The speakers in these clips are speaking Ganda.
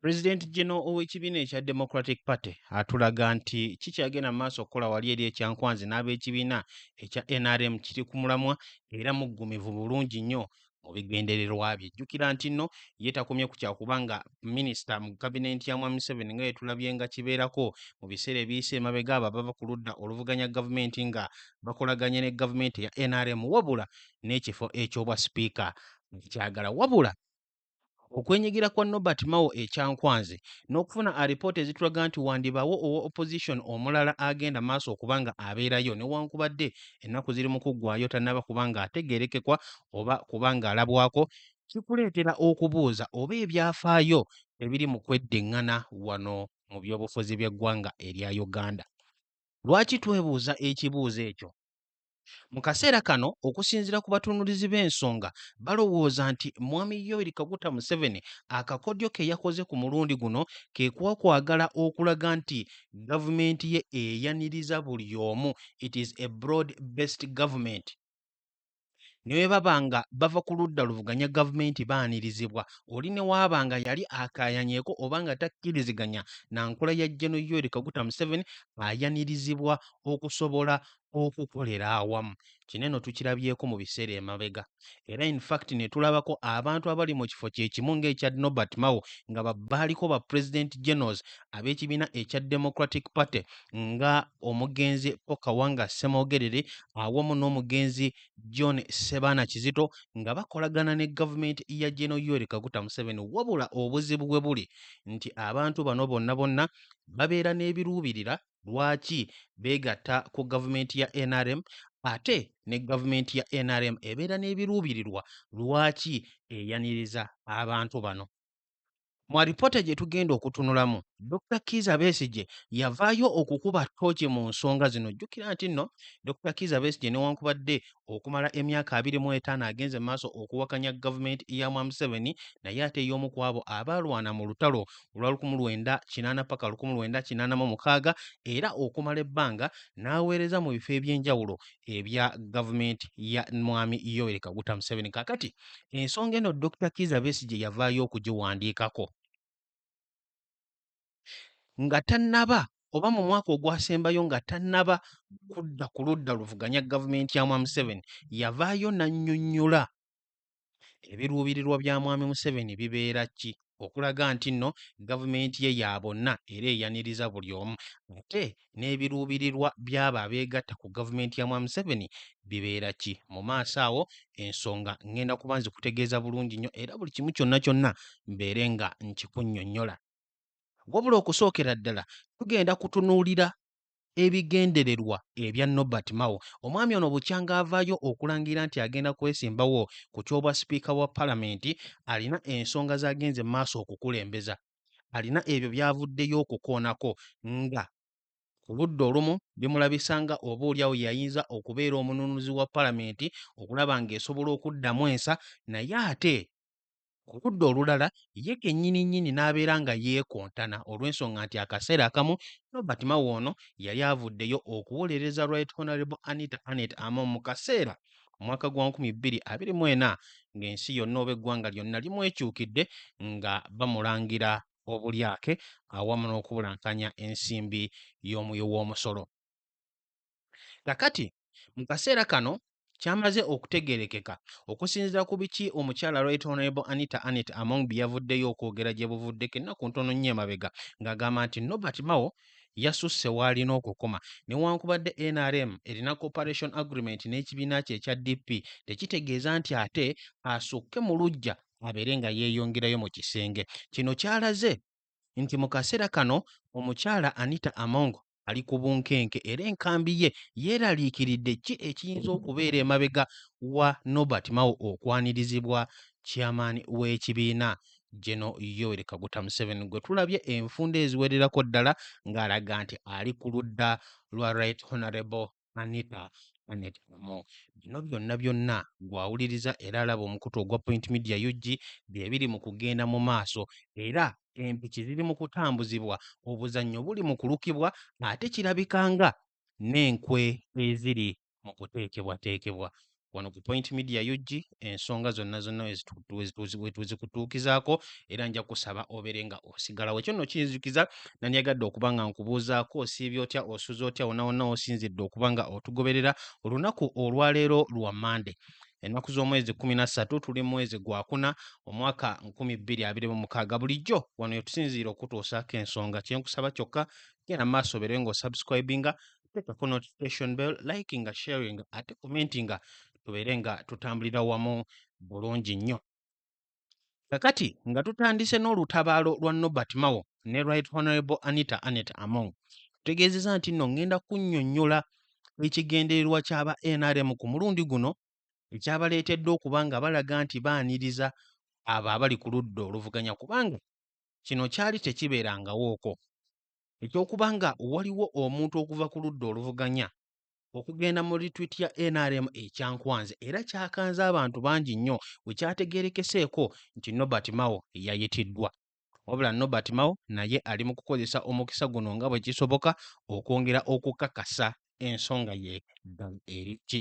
Pulezidenti Geno ow'ekibiina ekya Democratic Party atulaga nti kikyagenda mu maaso okukola wali eri ekyankwanzi n'ab'ekibiina ekya NRM kiri ku mulamwa era muggumivu bulungi nnyo mu bigendererwa bye. Jjukira nti nno ye takomye ku kyakuba nga minisita mu kabineeti ya Mwami Museveni nga yetulabye nga kibeerako mu biseera ebiyise emabega abo abava ku ludda oluvuganya gavumenti nga bakolaganye ne gavumenti ya NRM wabula n'ekifo eky'obwa sipiika kyagala wabula Okwenyigira kwa Nobert Mao e Kyankwanzi n'okufuna alipoota ezitulaga nti wandibaawo owa opposition omulala agenda maaso okuba nga abeerayo newankubadde ennaku ziri mu kuggwaayo tannaba kuba nga ategeerekekwa oba kuba nga alabwako kikuleetera okubuuza oba ebyafaayo ebiri mu kweddingana wano mu byobufuzi by'eggwanga erya Uganda. Lwaki twebuuza ekibuuzo ekyo? Mu kaseera kano okusinzira ku batunulizi b'ensonga balowooza nti Mwami Yoweri Kaguta Museveni akakodyo ke yakoze ku mulundi guno ke kwakwagala okulaga nti gavumenti ye eyaniriza buli omu it is a broad based government ne bwe baba nga bava ku ludda luvuganya gavumenti baanirizibwa oli ne waaba nga yali akaayanyeko oba nga takkiriziganya na nkola ya General Yoweri Kaguta Museveni ayanirizibwa okusobola okukolera awamu kino eno tukirabyeko mu biseera emabega era infact ne tulabako abantu abali mu kifo kyekimu ng'ekya nobert mao nga babaaliko ba president generals ab'ekibiina ekya democratic party nga omugenzi pokawanga semogerere awamu n'omugenzi john sebaana kizito nga bakolagana ne gavumenti ya geno yoweri kaguta museveni wabula obuzibu bwe buli nti abantu bano bonna bonna babeera n'ebiruubirira lwaki beegatta ku gavumenti ya nrm ate ne gavumenti ya nrm ebeera n'ebiruubirirwa lwaki eyaniriza abantu bano mu alipoota gye tugenda okutunulamu dr kiiza besigye yavaayo okukuba ttooki mu nsonga zino jjukira nti nno dr kiiza besigye newankubadde okumala emyaka abiri mu etaano agenze mu maaso okuwakanya gavumenti ya mwa museveni naye ate ey'omu ku abo abaalwana mu lutalo olwa lukumu lwenda kinaana paka lukumu lwenda kinaana mu mukaaga era okumala ebbanga n'aweereza mu bifo eby'enjawulo ebya gavumenti ya mwami yoweri kaguta museveni kakati ensonga eno dr kiza besigye yavaayo okugiwandiikako nga tannaba oba mu mwaka ogwasembayo nga tannaba kudda ku ludda luvuganya gavumenti ya mwami Museveni yavaayo n'annyonnyola ebiruubirirwa bya mwami Museveni bibeera ki okulaga nti nno gavumenti ye ya bonna era eyaniriza buli omu ate n'ebiruubirirwa by'abo abeegatta ku gavumenti ya mwami Museveni bibeera ki mu maaso awo ensonga ngenda kuba nzikutegeeza bulungi nnyo era buli kimu kyonna kyonna mbeere nga nkikunnyonnyola Wabula okusookera ddala tugenda kutunuulira ebigendererwa ebya Nobert Mao. Omwami ono bukyanga avaayo okulangira nti agenda kwesimbawo ku ky'obwa sipiika wa palamenti, alina ensonga z'agenze mu maaso okukulembeza. Alina ebyo by'avuddeyo okukoonako nga ku ludda olumu bimulabisa nga oba olyawo yayinza okubeera omununuzi wa palamenti okulaba ng'esobola okuddamu ensa naye ate Ku ludda olulala, ye kennyini nnyini n'abeera nga yeekontana olw'ensonga nti akaseera akamu Robert Mao ono yali avuddeyo okuwolereza Right Honourable Anita Annet Among mu kaseera omwaka gwa nkumi bbiri abiri mu ena ng'ensi yonna oba eggwanga lyonna limwekyukidde nga bamulangira obulyake awamu n'okubulankanya ensimbi y'omuwi w'omusolo. Kakati mu kaseera kano kyamaze okutegerekeka okusinzira ku biki omukyala Right Honorable Anita Annet Among bye yavuddeyo okwogera gye buvuddeko ennaku ntono nnyo emabega ng'agamba nti Norbert Mao yasusse w'alina okukoma newankubadde nrm erina cooperation agreement n'ekibiina kye ekya DP tekitegeeza nti ate asukke mu luggya abeere nga yeeyongerayo mu kisenge kino kyalaze nti mu kaseera kano omukyala Anita Among ali ku bunkenke era enkambi ye yeeraliikiridde ki ekiyinza okubeera emabega wa Nobert Mao okwanirizibwa chairman w'ekibiina General Yoweri Kaguta Museveni gwe tulabye enfunda eziwererako ddala ng'alaga nti ali ku ludda lwa Right Honorable Anita Annet Kamu. Bino byonna byonna gw'awuliriza era alaba omukutu ogwa Point Media UG bye biri mu kugenda mu maaso era empiki ziri mu kutambuzibwa, obuzannyo buli mu kulukibwa ate kirabika nga n'enkwe eziri mu kuteekebwateekebwa. wano ku Point Media UG ensonga zonna zonna wetuzikutuukizaako era nja kusaba obeere nga osigalawo ekyo nno kinzijukiza nandiyagadde okuba nga nkubuuzaako osiibye otya osuze otya wona wonna osinzidde okuba nga otugoberera olunaku olwaleero lwa mande ennaku z'omwezi kumi na ssatu tuli mwezi gwakuna omwaka nkumi bbiri abiri mu mukaaga bulijjo wano yetusinziira okutuusaako ensonga kyenkusaba kyokka genda maaso obeerewe nga osubscribinga teeka ku notification bell like nga sharing ate komenti nga tubeere nga tutambulira wamu bulungi nnyo kakati nga tutandise n'olutabaalo lwa nobert mawo ne right honorable anita anet among tutegeezeza nti nno ŋŋenda kunnyonnyola ekigendererwa ky'aba nrm ku mulundi guno ekyabaleetedde okuba nga balaga nti baaniriza abo abali ku ludda oluvuganya kubanga kino kyali tekibeerangawooko eky'okuba nga waliwo omuntu okuva ku ludda oluvuganya okugenda mu litwiti ya nrm ekyankwanze era kyakanze abantu bangi nnyo bwe kyategeerekeseeko nti nobert mao yayitiddwa wabula nobert mao naye ali mu kukozesa omukisa guno nga bwe kisoboka okwongera okukakasa ensonga ye ddala eri ki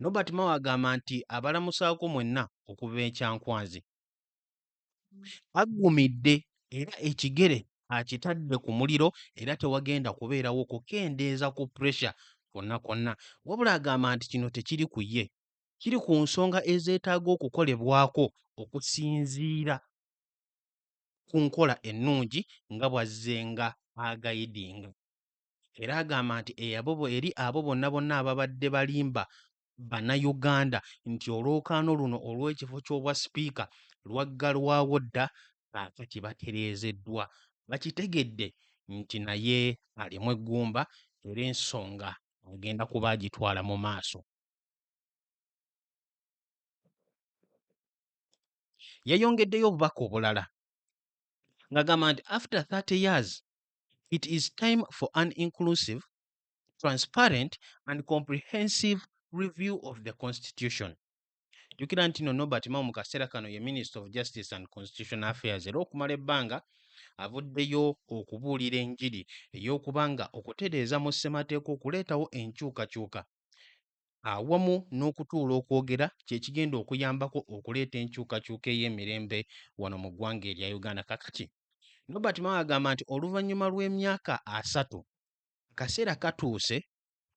Nobert Mao agamba nti abalamusaako mwenna okuva e Kyankwanzi aggumidde era ekigere akitadde ku muliro era tewagenda kubeerawo kukendeeza ku puresha kwonna kwonna wabula agamba nti kino tekiri ku ye kiri ku nsonga ezeetaaga okukolebwako okusinziira ku nkola ennungi nga bw'azzenga agayidinga. era agamba nti eyabobo eri abo bonna bonna ababadde balimba bannayuganda nti olwokaano luno olw'ekifo ky'obwa sipiika lwaggalwawo dda kaakati batereezeddwa bakitegedde nti naye alimu eggumba era ensonga agenda kuba agitwala mu maaso yayongeddeyo obubaka obulala ng'agamba nti after 30 years it is time for an inclusive, transparent and comprehensive review of the constitution. jjukira nti no nobert mao mu kaseera kano ye minister of justice and constitution affairs era okumala ebbanga avuddeyo okubuulira enjiri ey'okuba nga okutereeza mu ssemateeka okuleetawo enkyukakyuka awamu n'okutuula okwogera kye kigenda okuyambako okuleeta enkyukakyuka ey'emirembe wano mu ggwanga erya Uganda. Kakati Nobert Mao agamba nti oluvannyuma lw'emyaka asatu akaseera katuuse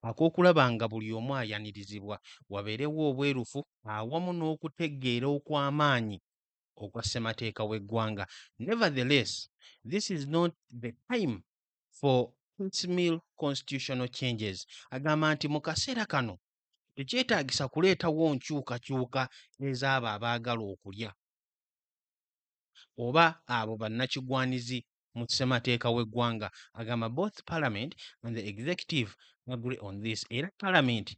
ak'okulaba nga buli omu ayanirizibwa, wabeerewo obwerufu awamu n'okutegeera okw'amaanyi okwa ssemateeka w'eggwanga. Nevertheless, this is not the time for piecemeal constitutional changes agamba nti mu kaseera kano tekyetaagisa kuleetawo nkyukakyuka ez'abo abaagala okulya oba abo bannakigwanizi mu ssemateeka w'eggwanga agamba both parliament and the executive agree on this era parliament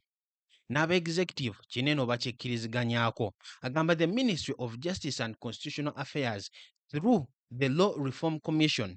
n'aba executive kinene obakikkiriziganyaako agamba the ministry of justice and constitutional affairs through the law reform commission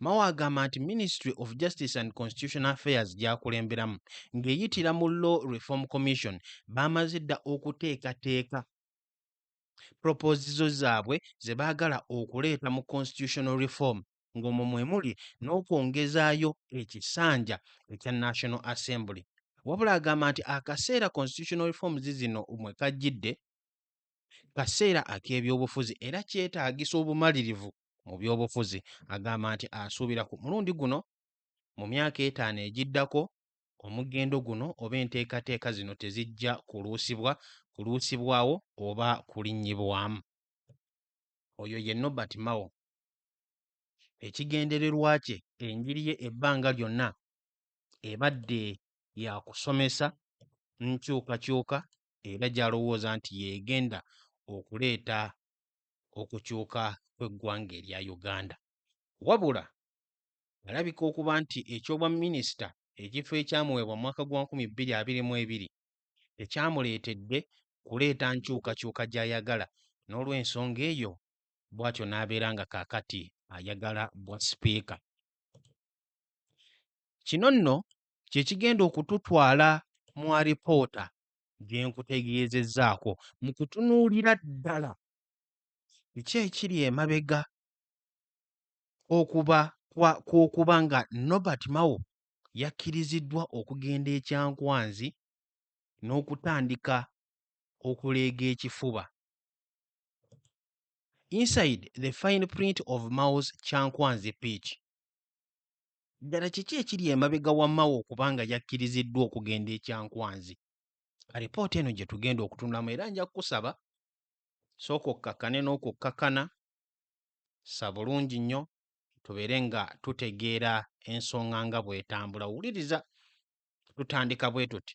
Mao agamba nti Ministry of Justice and Constitutional Affairs gy'akulemberamu ng'eyitira mu Law Reform Commission baamaze dda okuteekateeka propozizo zaabwe ze baagala okuleeta mu constitutional reform ng'omwo mwe muli n'okwongezaayo ekisanja ekya National Assembly. Wabula agamba nti akaseera constitutional reforms zino mwe kajjidde kaseera ak'ebyobufuzi era kyetaagisa obumalirivu mu byobufuzi agamba nti asuubira ku mulundi guno mu myaka etaano egiddako omugendo guno oba enteekateeka zino tezijja kuluusibwa kuluusibwawo oba kulinnyibwamu oyo ye nobert mao ekigendererwa kye enjiri ye ebbanga lyonna ebadde ya kusomesa nkyukakyuka era gy'alowooza nti yeegenda okuleeta okukyuka kw'eggwanga erya Uganda. Wabula alabika okuba nti eky'obwa minisita ekifo ekyamuweebwa mu mwaka gwa nkumi bbiri abiri mu ebiri tekyamuleetedde kuleeta nkyukakyuka gy'ayagala n'olw'ensonga eyo bw'atyo n'abeera nga kaakati ayagala bwa sipiika. Kino nno kye kigenda okututwala mu alipoota gye nkutegeezezzaako mu kutunuulira ddala biki ekiri emabega okuba kw'okuba nga Nobert Mao yakkiriziddwa okugenda e Kyankwanzi n'okutandika okuleega ekifuba. Inside the fine print of Mao's Kyankwanzi pitch. Ddala kiki ekiri emabega wa Mao okuba nga yakkiriziddwa okugenda e Kyankwanzi? Alipoota eno gye tugenda okutunulamu era nja kukusaba sooka okkakkane n'okukkakkana, sa bulungi nnyo tubeere nga tutegeera ensonga nga bw'etambula. Wuliriza tutandika bwe tuti.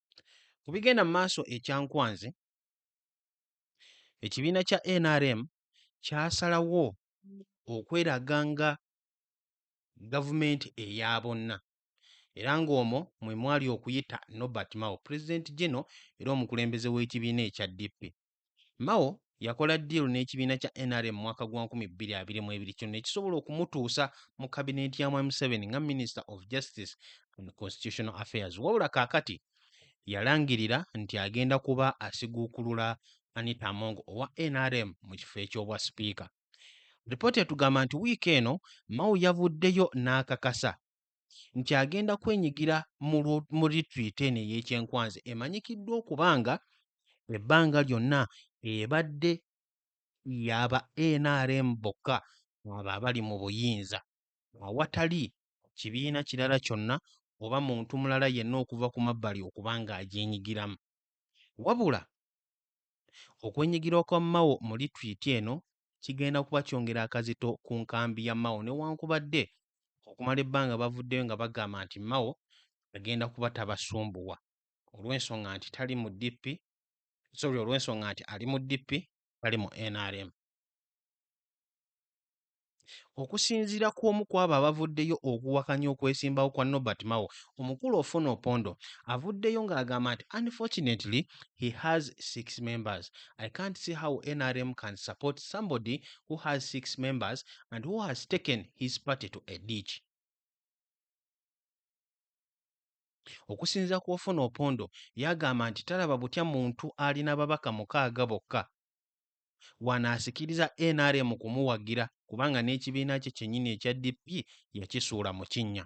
Ku bigenda mu maaso e Kyankwanzi, ekibiina kya nrm kyasalawo okweraga nga gavumenti eya bonna era ng'omwo mwe mwali okuyita Norbert Mao, pulezidenti gino era omukulembeze w'ekibiina ekya DP. Mao yakola ddiiru n'ekibiina kya nrm mwaka gwa 2022 kino ne kisobola okumutuusa mu kabineeti ya Mwami Museveni nga Minister of Justice and Constitutional Affairs wabula kaakati yalangirira nti agenda kuba asiguukulula Anita Among owa nrm mu kifo eky'obwa sipiika. Lipoota etugamba nti wiiki eno Mao yavuddeyo n'akakasa nti agenda kwenyigira mu lwo- mu litwiti eno ey'ekyenkwanzi emanyikiddwa okuba nga ebbanga lyonna ebadde yaba nrm bokka abo abali mu buyinza awatali kibiina kirala kyonna oba muntu mulala yenna okuva ku mabbali okuba ng'agyenyigiramu wabula Okwenyigira kwa Mao mu lituliti eno kigenda kuba kyongera akazito ku nkambi ya Mao newankubadde okumala ebbanga bavuddeyo nga bagamba nti Mao agenda kuba tabasumbuwa olw'ensonga nti tali mu DP sorry olw'ensonga nti ali mu DP tali mu nrm. Okusinziira ku omu kw'abo abavuddeyo okuwakanya okwesimbawo kwa Norbert Mao, omukulu Ofwono Opondo avuddeyo ng'agamba nti unfortunately he has six members, I can't see how nrm can support somebody who has six members and who has taken his party to a ditch. Okusinziira ku Ofwono Opondo yagamba nti talaba butya muntu alina babaka mukaaga bokka wano asikiriza nrm kumuwagira kubanga n'ekibiina kye kyennyini ekya dp yakisuula mu kinnya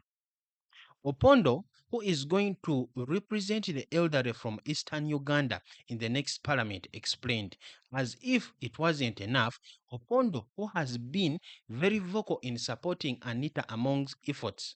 opondo who is going to represent the elderly from eastern uganda in the next parliament explained as if it wasn't enough opondo who has been very vocal in supporting anita among's efforts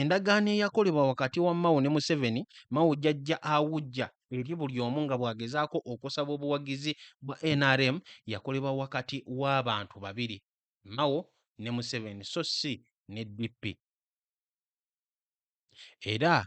Endagaano eyakolebwa wakati wa Mao ne Museveni, Mao jajja awujja eri buli omu nga bw'agezaako okusaba obuwagizi bwa nrm yakolebwa wakati w'abantu babiri, Mao ne Museveni so si ne DP. Era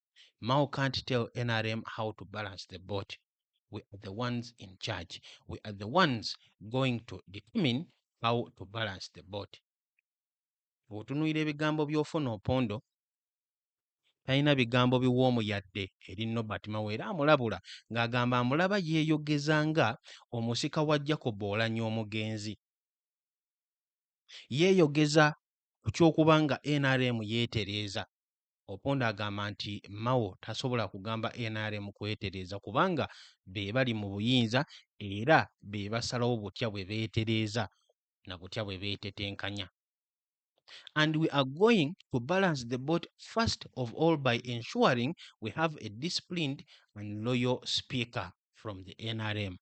Mao can't tell NRM how to balance the boat. We are the ones in charge. We are the ones going to determine how to balance the boat. Bw'otunuulira ebigambo by'ofuna opondo talina bigambo biwoomu yadde eri Nobert Mao era amulabula ng'agamba amulaba yeeyogeza nga omusika wa Jacob Oulanyah omugenzi. Yeeyogeza ku ky'okuba nga NRM yeetereeza Opondo agamba nti Mao tasobola kugamba nrm kwetereeza kubanga be bali mu buyinza era be basalawo butya bwe beetereeza na butya bwe beetetenkanya. And we are going to balance the boat first of all by ensuring we have a disciplined and loyal speaker from the NRM.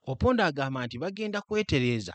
Opondo agamba nti bagenda kwetereeza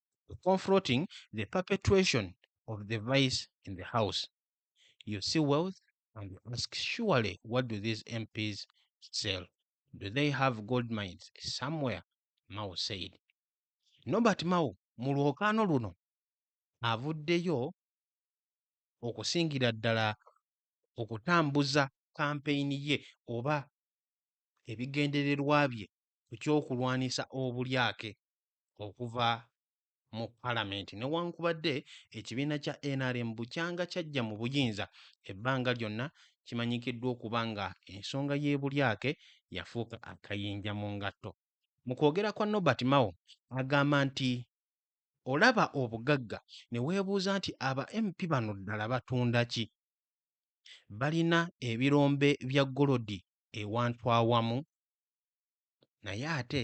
confronting the perpetuation of the vice in the house. You see wealth and you ask, surely, what do these MPs sell? Do they have gold mines somewhere? Mao said. Nobert Mao mu lwokaano luno avuddeyo okusingira ddala okutambuza kampeyini ye oba ebigendererwa bye ku ky'okulwanisa obulyake okuva mu palamenti newankubadde ekibiina kya nrm bukyanga kyajja mu buyinza ebbanga lyonna kimanyikiddwa okuba nga ensonga y'ebulyake yafuuka akayinja mu ngatto mu kwogera kwa nobert mao agamba nti olaba obugagga ne weebuuza nti aba mp bano ddala batunda ki balina ebirombe bya golodi ewantu awamu naye ate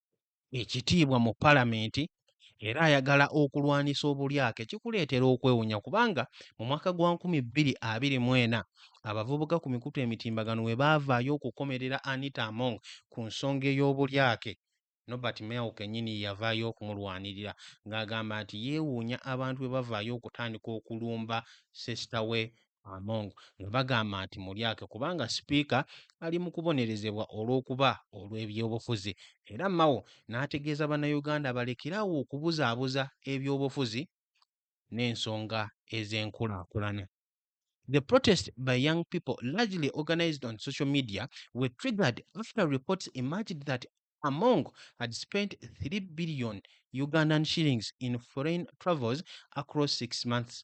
ekitiibwa mu palamenti era ayagala okulwanisa obulyake kikuleetera okwewunya kubanga mu mwaka gwa 2024 abavubuka ku mikutu emitimbagano we baavaayo okukomerera Anita Among ku nsonga ey'obulyake Nobert Mao kennyini yavaayo okumulwanirira ng'agamba nti yeewuunya abantu bwe bavaayo okutandika okulumba sesita we Among nga bagamba nti mulyake kubanga sipiika ali mu kubonerezebwa olw'okuba olw'ebyobufuzi era Mao n'ategeeza Bannayuganda balekere awo okubuzaabuza ebyobufuzi n'ensonga ez'enkulaakulana. The protest by young people largely organized on social media were triggered after reports emerged that Among had spent 3 billion Ugandan shillings in foreign travels across six months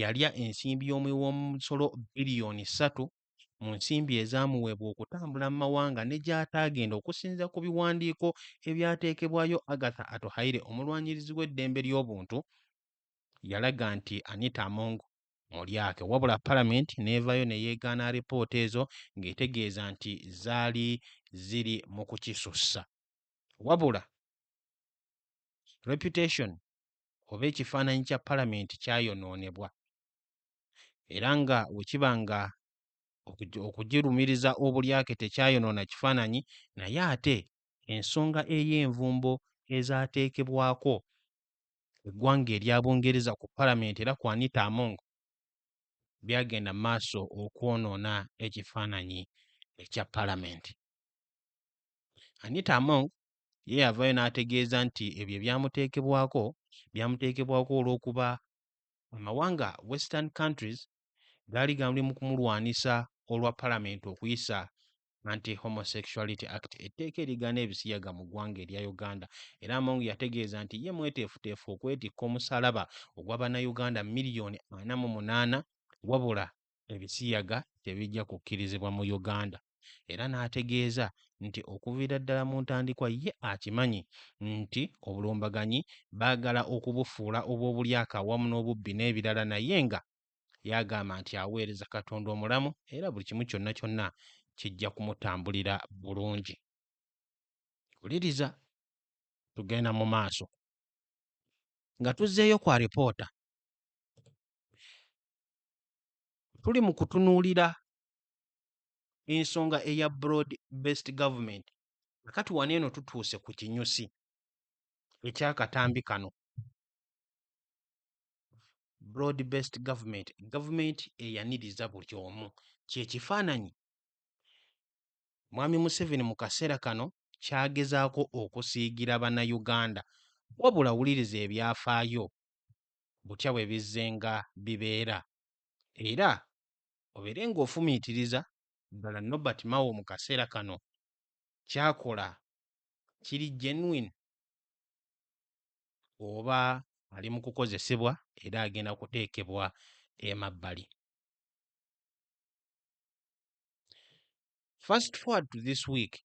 yalya ensimbi y'omuwi w'omusolo biliyoni ssatu mu nsimbi ezaamuweebwa okutambula mu mawanga ne gy'ataagenda okusinziira ku biwandiiko ebyateekebwayo Agatha Atuhaire omulwanyirizi w'eddembe ly'obuntu yalaga nti Anita Among mulyake wabula palamenti n'evaayo ne yeegaana alipoota ezo ng'etegeeza nti zaali ziri mu kukisussa wabula Reputation oba ekifaananyi kya palamenti kyayonoonebwa era nga bwe kiba nga okugirumiriza obulyake tekyayonoona kifaananyi naye ate ensonga ey'envumbo ezaateekebwako eggwanga erya Bungereza ku palamenti era ku Anita Among byagenda maaso okwonoona ekifaananyi ekya palamenti. Anita Among ye yavaayo n'ategeeza nti ebyo ebyamuteekebwako byamuteekebwako olw'okuba amawanga western countries gaali gamuli mu kumulwanisa olwa palamenti okuyisa anti homosexuality act etteeka erigaana ebisiyaga mu ggwanga erya uganda era among yategeeza nti ye mweteefuteefu okwetikka omusalaba ogwa bannayuganda miliyoni ana mu munaana wabula ebisiyaga tebijja kukkirizibwa mu Uganda era n'ategeeza nti okuviira ddala mu ntandikwa ye akimanyi nti obulumbaganyi baagala okubufuula obw'obulyake awamu n'obubbi n'ebirala naye nga yagamba nti aweereza Katonda omulamu era buli kimu kyonna kyonna kijja kumutambulira bulungi. Wuliriza tugenda mu maaso. Nga tuzzeeyo ku alipoota, tuli mu kutunuulira ensonga eya broad based government kati wano eno tutuuse ku kinyusi ekyakatambi kano broad based government government eyaniriza buli omu kyekifaananyi mwami museveni mu kaseera kano kyagezaako okusiigira bannayuganda wabula wuliriza ebyafaayo butya bwe bizzenga bibeera era obeere ng'ofumiitiriza ddala Nobert Mao mu kaseera kano ky'akola kiri genuine oba ali mu kukozesebwa era agenda kuteekebwa emabbali. Fast forward to this week,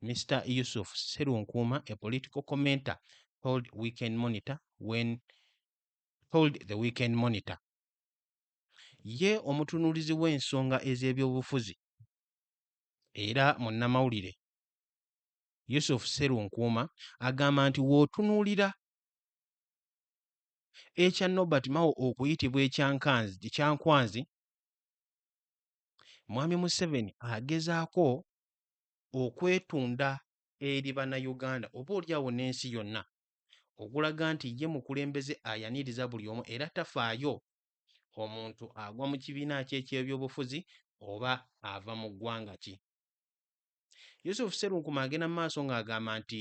Mister Yusuf Serunkuuma, a political commenter, told Weekend Monitor when told the Weekend Monitor. Ye omutunuulizi w'ensonga ez'ebyobufuzi era munnamawulire Yusuf Serunkuuma agamba nti w'otunuulira ekya Norbert Mao okuyitibwa ekyankwanzi, Mwami Museveni agezaako okwetunda eri Bannayuganda oba oli awo n'ensi yonna okulaga nti ye mukulembeze ayaniriza buli omu era tafaayo omuntu agwa mu kibiina ki eky'ebyobufuzi oba ava mu ggwanga ki. Yusuf Serunkuma agenda mu maaso ng'agamba nti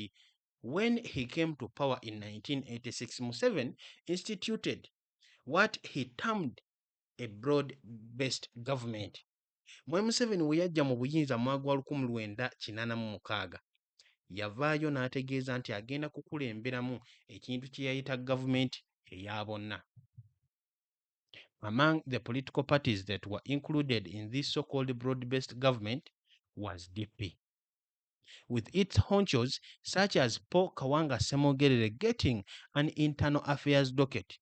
when he came to power in 1986 Museveni instituted what he termed a broad-based government Mwami Museveni we yajja mu buyinza mu mwaka gwa lukumi lwenda kinaana mu mukaaga, yavaayo n'ategeeza nti agenda kukulemberamu ekintu kye yayita gavumenti eya bonna. Among the political parties that were included in this so-called broad-based government was DP, with its honchos such as Paul Kawanga Ssemogerere getting an internal affairs docket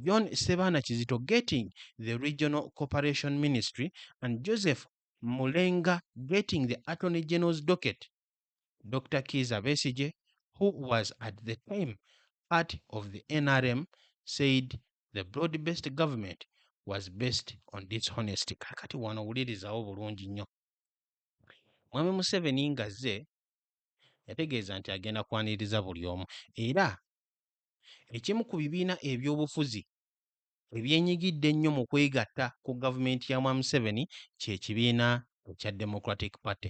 John Sebaana Kizito getting the regional cooperation ministry and Joseph Mulenga getting the attorney general's docket. Dr. Kiza Besije, who was at the time part of the NRM, said the broad-based government was based on dishonesty. Kakati wano wulirizawo bulungi nnyo. Mwami Museveni ngazze yategeeza nti agenda kwaniriza buli omu era Ekimu ku bibiina ebyobufuzi ebyenyigidde ennyo mu kwegatta ku gavumenti ya Mwami Museveni kye kibiina ekya Democratic Party.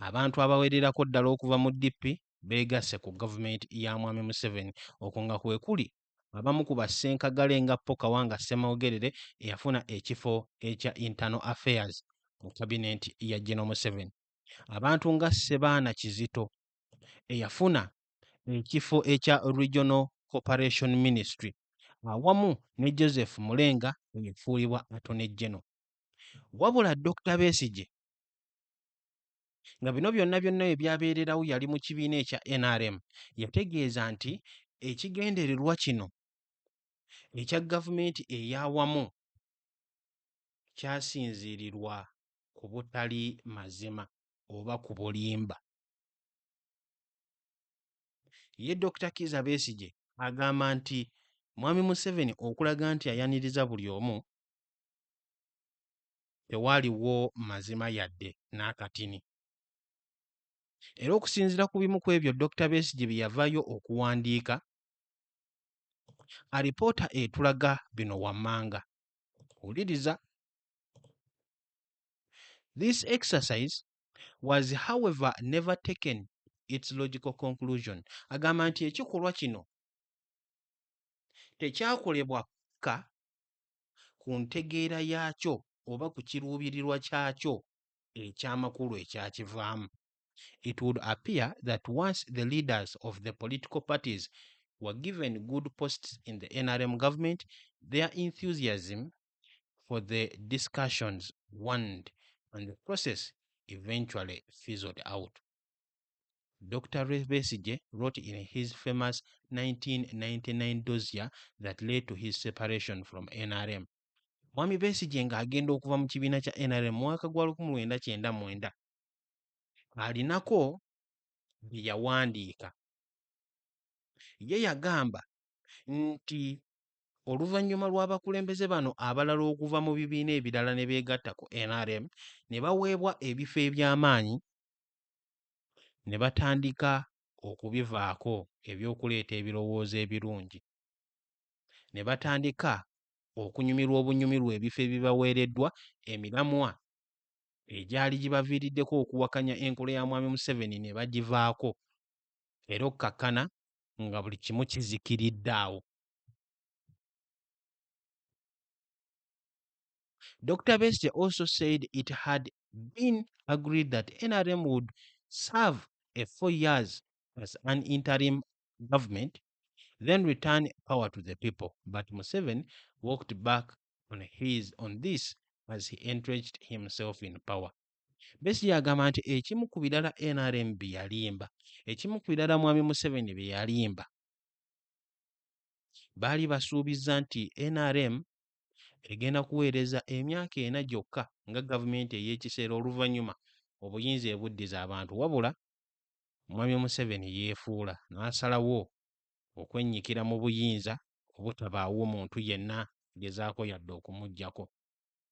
Abantu abawererako ddala okuva mu DP beegasse ku gavumenti ya Mwami Museveni. Okwo nga kwe kuli abamu ku bassenkagale nga Paul Kawanga Ssemogerere eyafuna ekifo ekya Internal Affairs mu kabineeti ya General Museveni, abantu nga Ssebaana Kizito eyafuna ekifo ekya Regional Cooperation Ministry awamu ne Joseph Mulenga eyafuulibwa Attorney General. Wabula Dokita Besigye nga bino byonna byonna we byabeererawo yali mu kibiina ekya NRM yategeeza nti ekigendererwa kino ekya gavumenti ey'awamu kyasinziirirwa ku butali mazima oba ku bulimba. Ye Dokita Kiiza Besigye agamba nti Mwami Museveni okulaga nti ayaniriza buli omu tewaaliwo mazima yadde n'akatini. Era okusinziira ku bimu ku ebyo Dokita Besigye bye yavaayo okuwandiika, alipoota etulaga bino wammanga. Wuliriza. This exercise was however never taken its logical conclusion agamba nti ekikolwa kino tekyakolebwa ka ku ntegeera yaakyo oba ku kiruubirirwa kyakyo ekyamakulu ekyakivaamu it would appear that once the leaders of the political parties were given good posts in the nrm government their enthusiasm for the discussions wand and the process eventually fizzled out. Dr. Rebesije wrote in his famous 1999 dossier that led to his separation from NRM. Mwami Besije nga agenda okuva mu kibiina kya NRM mwaka gwa 1999 alinako bye yawandiika ye yagamba nti Oluvannyuma lw'abakulembeze bano abalala okuva mu bibiina ebirala ne beegatta ku nrm ne baweebwa ebifo eby'amaanyi ne batandika okubivaako eby'okuleeta ebirowoozo ebirungi ne batandika okunyumirwa obunyumirwa ebifo ebibaweereddwa emiramwa egyali gibaviiriddeko okuwakanya enkola ya Mwami Museveni ne bagivaako era okkakkana nga buli kimu kizikiridde awo. Dr. Besigye also said it had been agreed that NRM would serve a four years as an interim government, then return power to the people. But Museveni walked back on his on this as he entrenched himself in power. Besigye agamba nti ekimu ku birala NRM bye yalimba, ekimu ku birala Mwami Museveni bye yalimba Baali basuubizza nti nrm egenda kuweereza emyaka ena gyokka nga gavumenti ey'ekiseera oluvannyuma obuyinza ebuddize abantu wabula Mwami Museveni yeefuula n'asalawo okwennyikira mu buyinza obutabaawo muntu yenna agezaako yadde okumuggyako.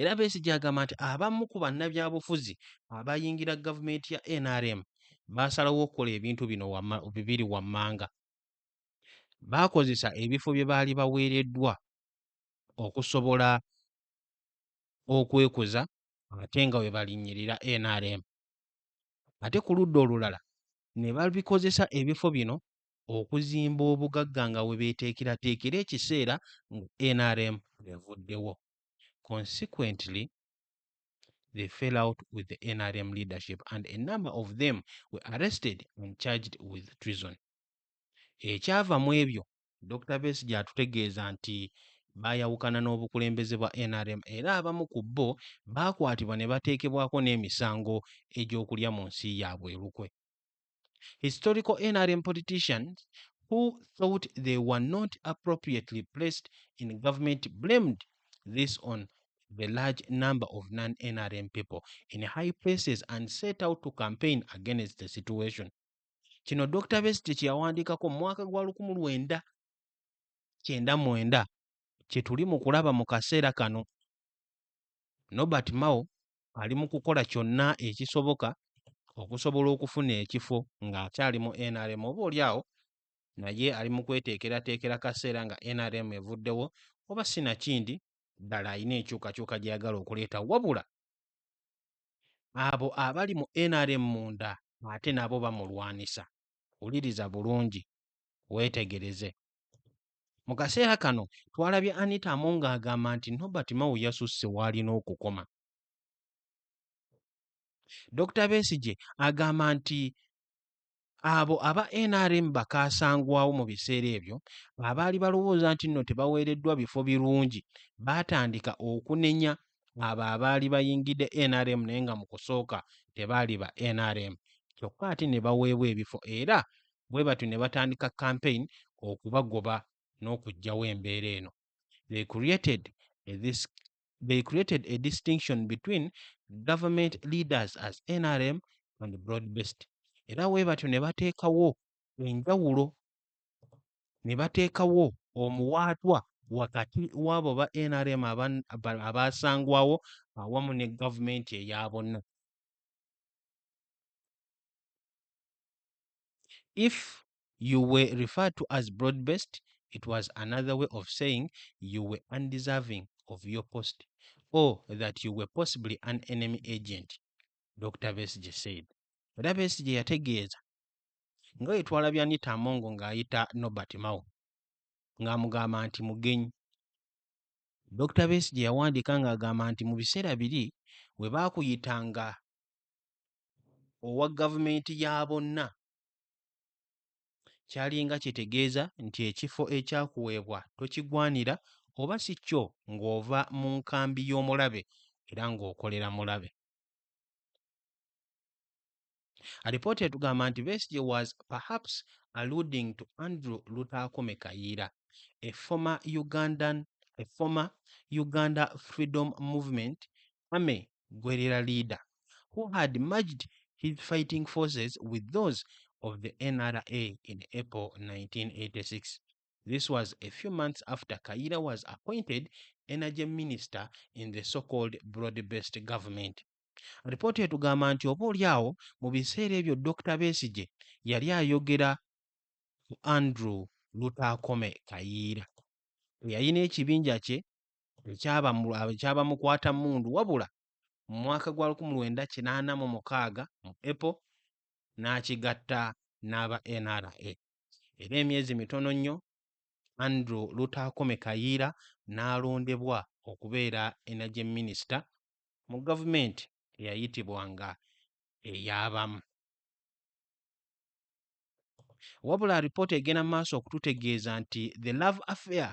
Era Besigye agamba nti abamu ku bannabyabufuzi abayingira gavumenti ya nrm baasalawo okukola ebintu bino bibiri wammanga. Baakozesa ebifo bye baali baweereddwa okusobola okwekuza ate nga we balinnyirira nrm. Ate ku ludda olulala ne babikozesa ebifo bino okuzimba obugagga nga we beeteekerateekera ekiseera nrm lwevuddewo. Consequently, they fell out with the nrm leadership and a number of them were arrested and charged with treason. Ekyava mu ebyo, Dokita Besigye atutegeeza nti baayawukana n'obukulembeze bwa nrm era abamu ku bo baakwatibwa ne bateekebwako n'emisango egy'okulya mu nsi yaabwe olukwe. historical NRM politicians who thought they were not appropriately placed in government blamed this on the large number of non-NRM people in high places and set out to campaign against the situation. Kino Dr. Best kyeyawandiikako mu mwaka gwa lukumu lwenda kyenda mwenda kye tuli mu kulaba mu kaseera kano. Nobert Mao ali mu kukola kyonna ekisoboka okusobola okufuna ekifo ng'akyali mu nrm oba oli awo naye ali mu kweteekerateekera kaseera nga nrm evuddewo oba sinakindi ddala alina enkyukakyuka gy'ayagala okuleeta wabula abo abali mu nrm munda ate nabo bamulwanisa wuliriza bulungi weetegereze Mu kaseera kano twalabye Anita Among agamba nti Nobert Mao yasusse w'alina okukoma. Dr Besigye agamba nti abo aba NRM bakaasangwawo mu biseera ebyo abaali balowooza nti nno tebaweereddwa bifo birungi baatandika okunenya abo abaali bayingidde NRM naye nga mu kusooka tebaali ba NRM kyokka ate ne baweebwa ebifo era bwe batyo ne batandika campaign okubagoba n'okuggyawo embeera eno they created a, this, they created a distinction between government leaders as nrm and broad based era bwe batyo ne bateekawo enjawulo ne bateekawo omuwaatwa wakati w'abo ba nrm abaasangwawo awamu ne gavumenti eya bonna if you were referred to as broad based it was another way of saying you were undeserving of your post or that you were possibly an enemy agent dr besige said era besige yategeeza nga yetwala byanita amongo ng'ayita nobert mao ng'amugamba nti mugenyi dr besige yawandiika ng'agamba nti mu biseera biri we baakuyitanga owa gavumenti ya bonna kyalinga kitegeeza nti ekifo ekyakuweebwa tokigwanira oba si kyo ng'ova mu nkambi y'omulabe era ng'okolera mulabe. Alipoota etugamba nti Besigye was perhaps alluding to Andrew Lutaakome Kayiira, a former Ugandan, a former Uganda Freedom Movement army guerrilla leader who had merged his fighting forces with those of the NRA in April 1986. This was a few months after Kayiira was appointed energy minister in the so-called broad-based government. Alipooti etugamba nti oba oli awo mu biseera ebyo Dr. Besigye yali ayogera ku Andrew Lutaakome Kayiira eyalina ekibinja kye ekyabamukwata mundu wabula mu mwaka gwa lukumu lwenda kinaana mu mukaaga mu April n'akigatta n'aba NRA era emyezi mitono nnyo Andrew Lutaakome Kayiira n'alondebwa okubeera energy minister mu gavumenti eyayitibwanga ey'abamu. Wabula alipoota egenda mu maaso okututegeeza nti The Love Affair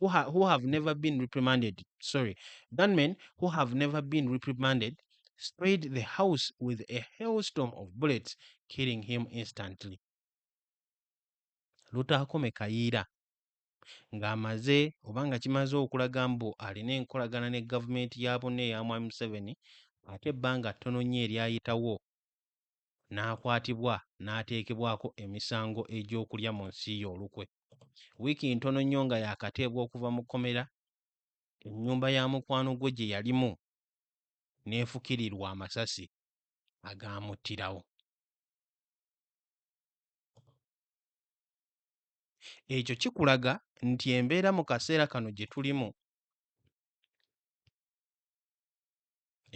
who, ha who have never been reprimanded, sorry, gunmen who have never been reprimanded sprayed the house with a hailstorm of bullets, killing him instantly. Lutakome Kayiira ng'amaze oba nga kimaze okulaga mbu alina enkolagana ne gavumenti ya bunne eya mwami Museveni ate ebbanga ttono nnyo eryayitawo n'akwatibwa n'ateekebwako emisango egy'okulya mu nsi ye olukwe. Wiiki ntono nnyo nga yaakateebwa okuva mu kkomera, ennyumba ya mukwano gwe gye yalimu n'efukirirwa amasasi agaamuttirawo. Ekyo kikulaga nti embeera mu kaseera kano gye tulimu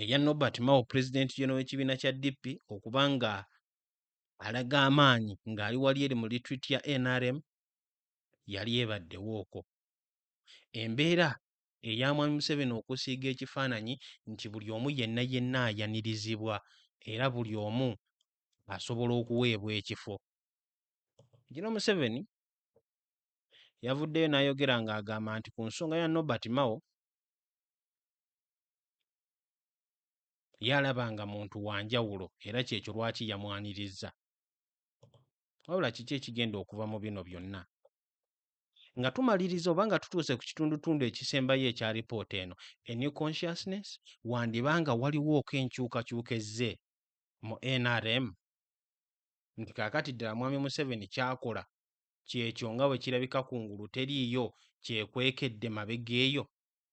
erya Norbert Mao pulezidenti jona w'ekibiina kya DP okuba nga alaga amaanyi ng'ali wali eri mu litwiti ya NRM yali ebaddewo okwo. Embeera eya Mwami Museveni okusiiga ekifaananyi nti buli omu yenna yenna ayanirizibwa era buli omu asobola okuweebwa ekifo. Jino Museveni yavuddeyo n'ayogera ng'agamba nti ku nsonga ya Norbert Mao, yalaba nga muntu wa njawulo era kyekyo lwaki yamwanirizza wabula kiki ekigenda okuva mu bino byonna nga tumaliriza oba nga tutuuse ku kitundutundu ekisembayo ekya lipoota eno a new consciousness wandiba nga waliwooko enkyukakyuka ezze mu nrm nti kaakati ddala mwami museveni kyakola kyekyo nga bwe kirabika ku ngulu teriiyo kyekwekedde mabega eyo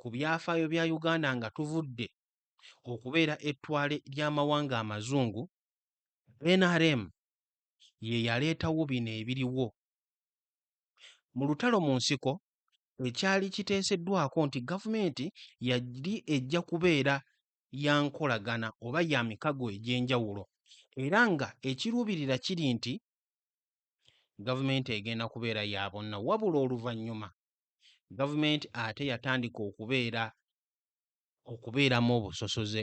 ku byafaayo bya Uganda nga tuvudde okubeera ettwale ly'amawanga amazungu, nrm ye yaleetawo bino ebiriwo. Mu lutalo mu nsiko ekyali kiteeseddwako nti gavumenti yali ejja kubeera ya nkolagana oba ya mikago egy'enjawulo era nga ekiruubirira kiri nti gavumenti egenda kubeera ya bonna wabula oluvannyuma gavumenti ate yatandika okubeera okubeeramu obusosoze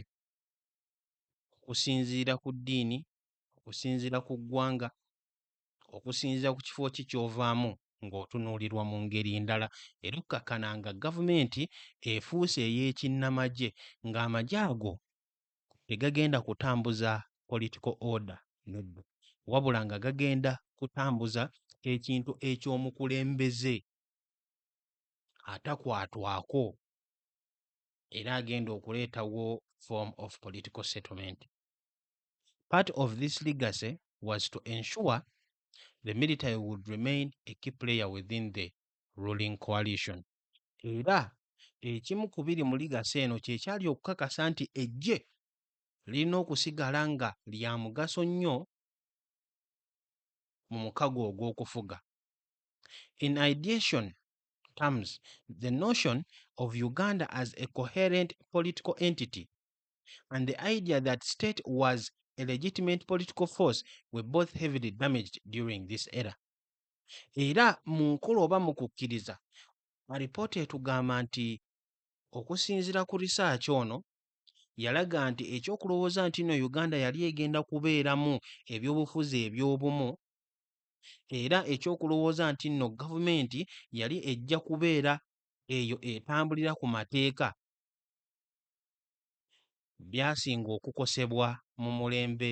okusinziira ku ddiini okusinziira ku ggwanga okusinziira ku kifo ki kyovaamu ng'otunuulirwa mu ngeri ndala era okkakkana nga gavumenti efuuse ey'ekinnamagye ng'amagye ago tegagenda kutambuza political order nedda wabula nga gagenda kutambuza ekintu eky'omukulembeze atakwatwako era agenda okuleetawo form of political settlement. Part of this legacy was to ensure the military would remain a key player within the ruling coalition. era ekimu ku biri mu ligasi eno kye kyali okukakasa nti eggye lirina okusigala nga lya mugaso nnyo mu mukago ogw'okufuga. In ideation terms, the notion of Uganda as a coherent political entity and the idea that state was a legitimate political force were both heavily damaged during this era. Era mu nkolo oba mu kukkiriza, alipoota etugamba nti okusinzira ku risaaki ono yalaga nti ekyokulowooza nti no Uganda yali egenda kubeeramu ebyobufuzi ebyobumu era ekyokulowooza nti no gavumenti yali ejja kubeera eyo etambulira ku mateeka byasinga okukosebwa mu mulembe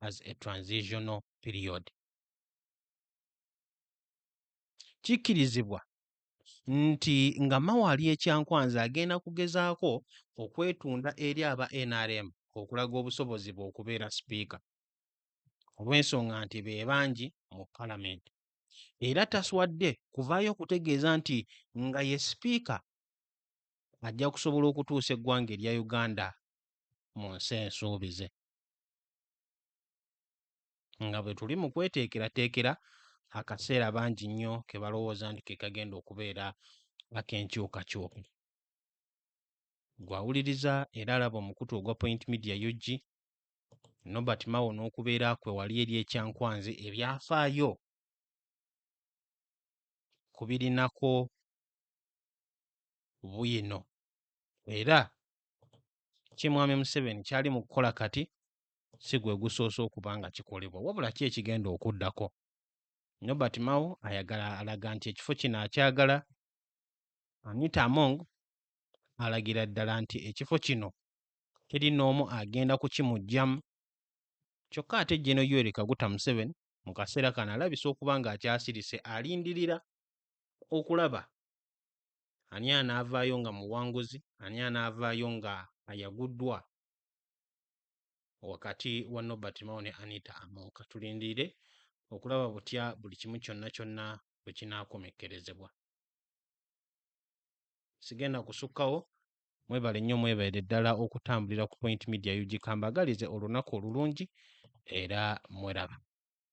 as a transitional period. Kikkirizibwa nti nga Mao ali e Kyankwanzi agenda kugezaako okwetunda eri aba nrm okulaga obusobozi bwe okubeera sipiika olw'ensonga nti be bangi mu palamenti era taswadde kuvaayo okutegeeza nti nga ye sipiika ajja kusobola okutuusa eggwanga erya Uganda mu nsi ensuubize. nga bwe tuli mu kweteekerateekera akaseera bangi nnyo ke balowooza nti ke kagenda okubeera ak'enkyukakyuka. Gwawuliriza era alaba omukutu ogwa Point Media UG Nobert Mao n'okubeera kwe wali eri ekyankwanzi ebyafaayo ku birinako bwino era ki Mwami Museveni kyali mu kukola kati si gwe gusoose okuba nga kikolebwa wabula ki ekigenda okuddako. Nobert Mao ayagala alaga nti ekifo kino akyagala. Anita Among alagira ddala nti ekifo kino teri n'omu agenda kukimuggyamu. Kyokka ate Jeno Yoweri Kaguta Museveni mu kaseera kano alabise okuba ng'akyasirise alindirira okulaba ani anaavaayo nga muwanguzi ani anaavaayo nga ayaguddwa wakati wa nobert mao ne anita among katulindirire okulaba butya buli kimu kyonna kyonna bwe kinaakomekkerezebwa sigenda kusukkawo mwebale nnyo mwebaire ddala okutambulira ku point media ug kambagalize olunaku olulungi era mweraba